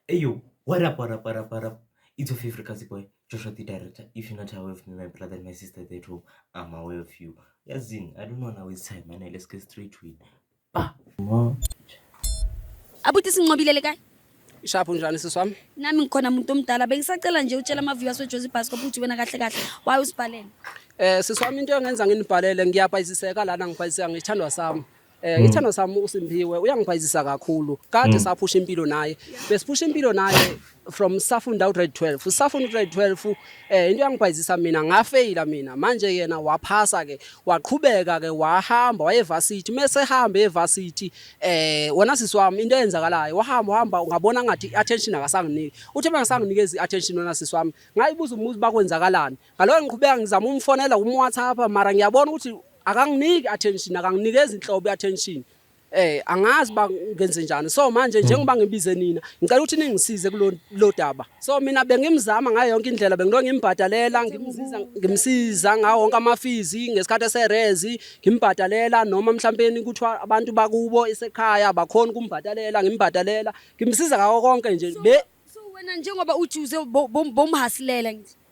Eyo, what up, what up, what up, what up? It's your favorite Kazi boy, Joshua the director. If you're not aware of me, my brother and my sister at that home, I'm aware of you. Yazin, I don't know now it's time, man. Let's get straight to it. Bah! Ma. abuti sinqobile le kae ishaphu njani sisi wami nami ngikhona muntu omdala bengisacela nje utshela amaviwas wejozi basco ukuthi wena kahle kahle waye usibhalele um sisi wami into engenza nginibhalele ngiyabhayiziseka lana ngibhayiziseka ngithandwa sami Eh mm. ithando sami uSimpiwe uyangibhayizisa kakhulu. Kade mm. saphusha impilo naye. Besiphusha impilo naye from safunda ugrade 12. Safunda ugrade 12 eh into yangibhayizisa mina ngafeyila mina. Manje yena waphasa ke waqhubeka ke wahamba wayevarsity mese hambe evarsity eh wona sisi wami into eyenzakalayo wahamba hamba ungabona ngathi attention akasanginiki. Uthe bangisanginikeza iattention wona sisi wami. Ngayibuza umuzi bakwenzakalani. Ngaloyo ngiqhubeka ngizama umfonela um WhatsApp mara ngiyabona ukuthi akanginiki attention akanginikezi inhlobo attention eh angazi ba ngenze njani so manje hmm. njengoba ngibize nina ngicela ukuthi ningisize kulo daba so mina bengimzama ngayo yonke indlela bengilo ngimbhadalela ngimsiza ngimsiza ngawo wonke amafizi ngesikhathi eserezi ngimbhadalela noma mhlawumbe kuthiwa abantu bakubo esekhaya bakhona ukumbhadalela ngimbhadalela ngimsiza ngawo konke nje be wena njengoba ujuze bomhasilela ngithi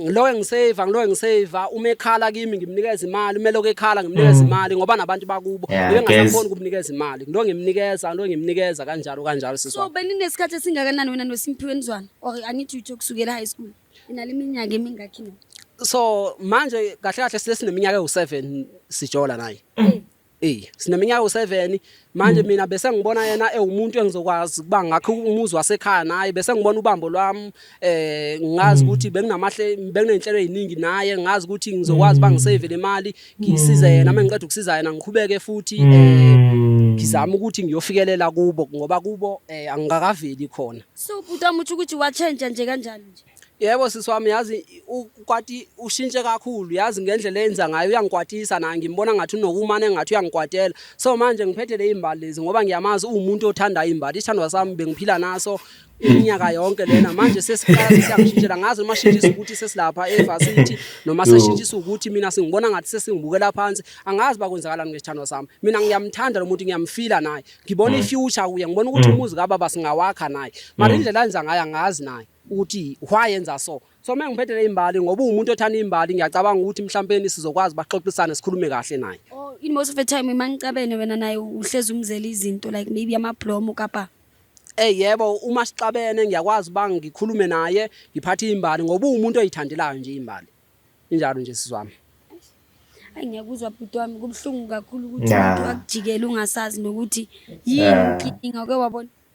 ngiloke ngisave ngiloke ngisave uma ekhala kimi ngimnikeza imali uma eloku ekhala ngimnikeza mm. imali ngoba nabantu bakubo ngibe ngasakhona ukumnikeza imali ngilo ngimnikeza ngilo ngimnikeza kanjalo kanjalo siswa so beninesikhathi esingakanani wena noSimphiwe nizwana or i need you to kusukela high school inale minyaka emingakhi so manje kahle kahle silesi neminyaka ewu7 sijola naye mm. Ey sineminyaka u7 manje mm. mina bese ngibona yena ewumuntu engizokwazi kuba ngakho umuzi wasekhaya naye bese ngibona ubambo lwami eh ngazi mm. ukuthi benginamahle benginenhlelo eziningi naye ngazi ukuthi ngizokwazi bangisave le mali ngisize yena mm. mengiqeda ukusiza yena ngikhubeke futhi eh ngizama ukuthi ngiyofikelela kubo ngoba kubo eh angikakaveli khona so buta muthi ukuthi wa change nje kanjani nje Yebo sisi wami yazi ukwati ushintshe kakhulu yazi ngendlela eyenza ngayo uyangikwatisa naye ngimbona ngathi unokumane ngathi uyangikwatela so manje ngiphethe le imbali lezi ngoba ngiyamazi uwumuntu othanda imbali isithandwa sami bengiphila naso iminyaka yonke lena manje sesiqala siyangishintshela ngazi noma shintshisa ukuthi sesilapha evarsity noma seshintshisa ukuthi mina singibona ngathi sesingibukela phansi angazi bakwenzakalani ngesithandwa sami mina ngiyamthanda lo muntu ngiyamfila naye ngibona mm. ifuture kuye ngibona ukuthi mm. umuzi kababa singawakha naye mara mm. indlela enza ngayo angazi naye ukuthi why yenza so so uma ngiphethele imbali ngoba uwumuntu othanda imbali ngiyacabanga ukuthi mhlawumbe sizokwazi baxoxisane sikhulume kahle naye oh in most of the time uma ngicabene wena naye uhlezi umzela izinto like maybe amablomo kapa Eh yebo uma sixabene ngiyakwazi bang ngikhulume naye ngiphathe imbali ngoba umuntu oyithandelayo nje imbali injalo nje sizwami Ayi ngiyakuzwa bhuti wami kubuhlungu kakhulu ukuthi umuntu akujikele ungasazi nokuthi yini inkinga ke wabona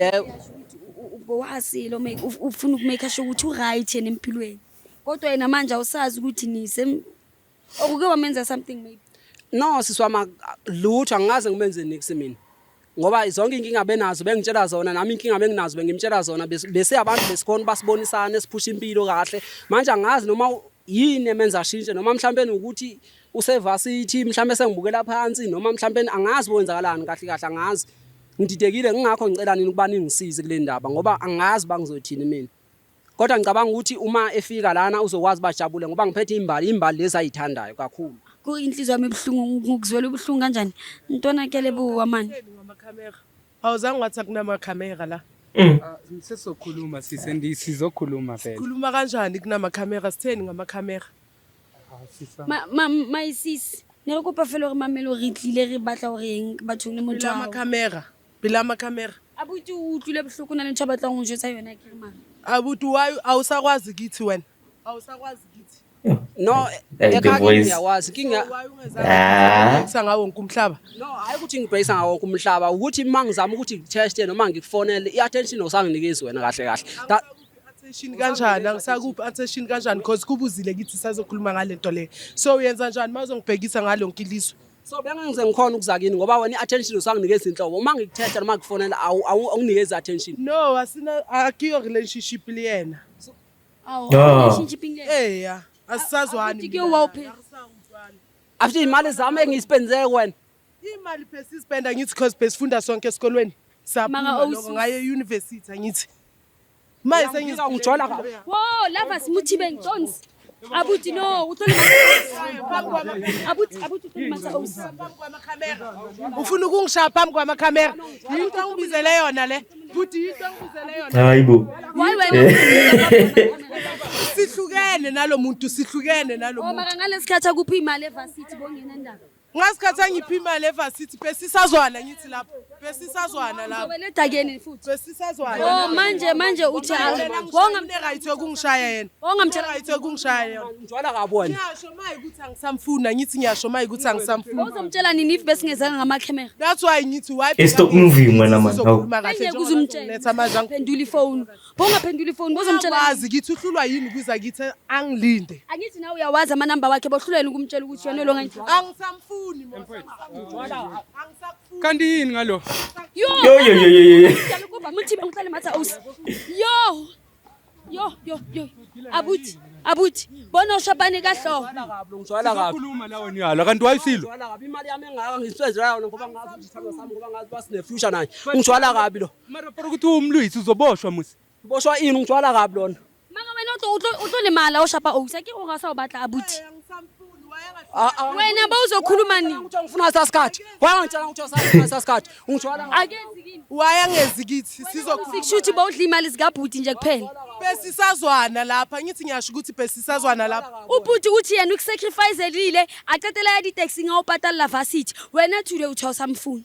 Yebo. Uyasho ukuthi u- u- ubowasile ume- uf- ufuna ukumake asho ukuthi uright yena empilweni kodwa yena manje awusazi ukuthi nise okuke wamenza something maybe No sisi wami ak- lutho angikaze ngimenze nix mina. Ngoba zonke inkinga benazo bengitshela zona nami inkinga benginazo bengimtshela zona bes- bese abantu besikhona ubasibonisana esiphusha impilo kahle. Manje angazi noma u- yini emenza ashintshe noma mhlawumbe ukuthi usevasithi mhlawumbe sengibukela phansi noma mhlawumbe angazi kwenzakalani kahle kahle angazi ngididekile ngingakho ngicela nini ukuba ningisize kule ndaba ngoba angazi bangizothini mina kodwa ngicabanga ukuthi uma efika lana uzokwazi bajabule ngoba ngiphethe imbali imbali lezi ayithandayo kakhulu kuyinhliziyo yami ebuhlungu ngikuzwela ubuhlungu kanjani ntwana kele buwa mani awuzange wathi akunamakhamera la mm. ah, sizokhuluma sise sizokhuluma vele khuluma kanjani kunamakhamera sitheni ngamakhamera my sis ne re kopa fela gore mamelo re tlile re batla gore eng bathong le mothoamacamera pela macamera abuti o utlwile botlhoko na le ntho a batlang go jotsa yone kere mara abuti wa a o sa kwazi kithi wena a o sa kwazi kithi no ekhakiyakwazi kingaungeza ngawo wonke umhlaba no hayi ukuthi ngibhekisa ngawo wonke umhlaba ukuthi uma ngizama ukuthi ngiteste noma ngikufonele i-attention osanginikezi wena kahle kahle attention kanjani angisakuphi attention kanjani because kubuzile kithi sazokhuluma ngale nto leyo so uyenza njani uma uzongibhekisa ngalo lonke ilizwe so bengangize ngikhona ukuza kini ngoba wena i-attention usanginikeza inhlobo uma ngikuthetha noma ngikufonela awunginikezi attention no asina akiyo relationship liyena awu relationship ngeke eya asisazwani ke wawuphela after imali zami engiyispendele wena imali phesisipenda ngithi because besifunda sonke esikolweni saphuma ngaye e-university angithi Manje sengizika ungijola kabi. Wo, lava simuthibe ngiconsi. Abuti no, uthole Abuti abuti uthole manje awusi. Ufuna ukungishaya phambi kwama camera. Yinto ongibizele yona le. Buti yinto ongibizele yona. Hayibo. Why wena? Eh. Sihlukene nalomuntu, sihlukene nalomuntu. Oma oh, kangalesi khathi akuphi imali evarsity bongena ndaba. Ngasikhathi angiphi imali evarsity besisazwana ngithi lapho besisazwana lapho. Ubeletha kuyeni futhi? Besisazwana. Oh manje manje uthi wonga mne right yokungishaya yena. Wonga mthe right yokungishaya yena. Njwala kabona. Ngiyasho maye ukuthi angisamfuna ngithi ngiyasho maye ukuthi angisamfuna. Uzomtshela nini if besingezanga ngama camera? That's why ngithi why. Stop moving wena man. Ngeke uzumtshela. Letha manje angiphenduli phone. Bongaphendula ifoni bozomtshela. Wazi kithi uhlulwa yini kuza kithi angilinde. Angithi nawe uyawazi ama number wakhe bohlulwa yini ukumtshela ukuthi yona lo ngithi. Angisamfuni mfowethu. Angisakufuni. Kanti yini ngalo? Yo yo yo yo yo. Ngiyalikuba muthi ngihlale matha aus. Yo. Yo yo yo. Abuthi abuthi bona ushabane kahloko. Ngizwala kabi. Ukhuluma la wena uyalo kanti wayisilo. Ngizwala kabi imali yami engaka ngiswezela yona ngoba ngazi ukuthi sithando sami ngoba ngazi basinefuture naye. Ngizwala kabi lo. Mara para ukuthi umlwisi uzoboshwa musi. Boshwa ini ungithwala kabi lona. Maka wena utlo utlo utlo limala oshapa owisa ke ongasa obatla abuthi. Wena bawuzokhuluma nini? Ukuthi ngifuna sasikhathi. Wangitshela ukuthi usafuna sasikhathi. Ungithwala ngabi. Akenzi kimi. Wayengenzi kithi sizokhuluma. Sikushuthi bawudla imali zikabhuti nje kuphela. Besisazwana lapha ngithi ngiyasho ukuthi besisazwana lapha. Ubhuti uthi yena ukusacrifice elile acetela ya di taxi ngawo patala varsity. Wena thule uthosa mfuni.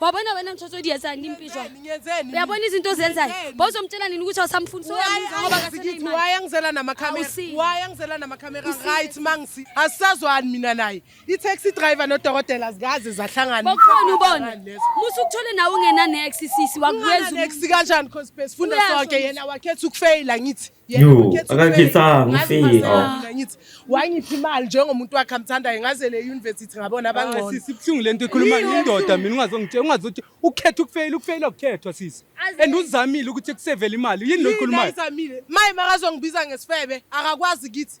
wabona wena mthothodi yezani impizwa uyabona izinto ozenzayo bozomtshela nini ukuthi awusamfuni soyamuzawabakaseleimali angizela namakhamera why angizela namakhamera right mangisi asisazwani mina naye i-taxi driver nodokotela zikaze zahlangana bokhona ubona musa ukuthole nawe ungenanex sisi wakuweza kanjani cause besifunda sonke yena wakhetha ukufeyila ngithi Yo, akakhethanga umfika. Oh. Ngithi wangiphi imali njengomuntu wakhe amthandayo ngaze le university ngabona abangcono. Ah, sisi ibuhlungu lento ikhuluma indoda mina ungazongitshela ungazothi ukhetha ukufeyila ukufeyila ukukhethwa sisi. And uzamile ukuthi kusevele imali yini lo ikhulumayo. Uzamile. Maye makazongibiza ngesifebe akakwazi kithi.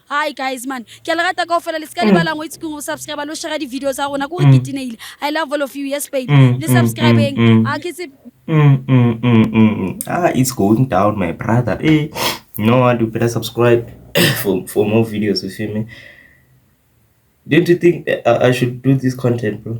hi guys man ke le rata kao fela le seka le mm. balang o itse keng go subscribe lo share di-video tsa rona kore mm. ke tineile i love all of you yes babe mm, le subscribeng a ke tse ah it's going down my brother eh no one do better subscribe for, for more videos you feel me don't you think I, I should do this content bro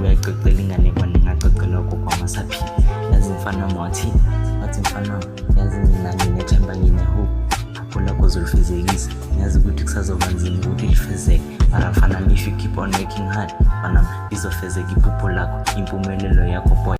uyayixoxela ingane kwana ingaxoxelwa gogo amasaphila yazi mfana wami wathi wathi mfana wami yazi mina nginethemba nginehope apho lakho zolifezekisa ngiyazi ukuthi kusazoba nzima ukuthi lifezeke mara mfana if you keep on working hard mfana izofezeka iphupho lakho impumelelo yakho boy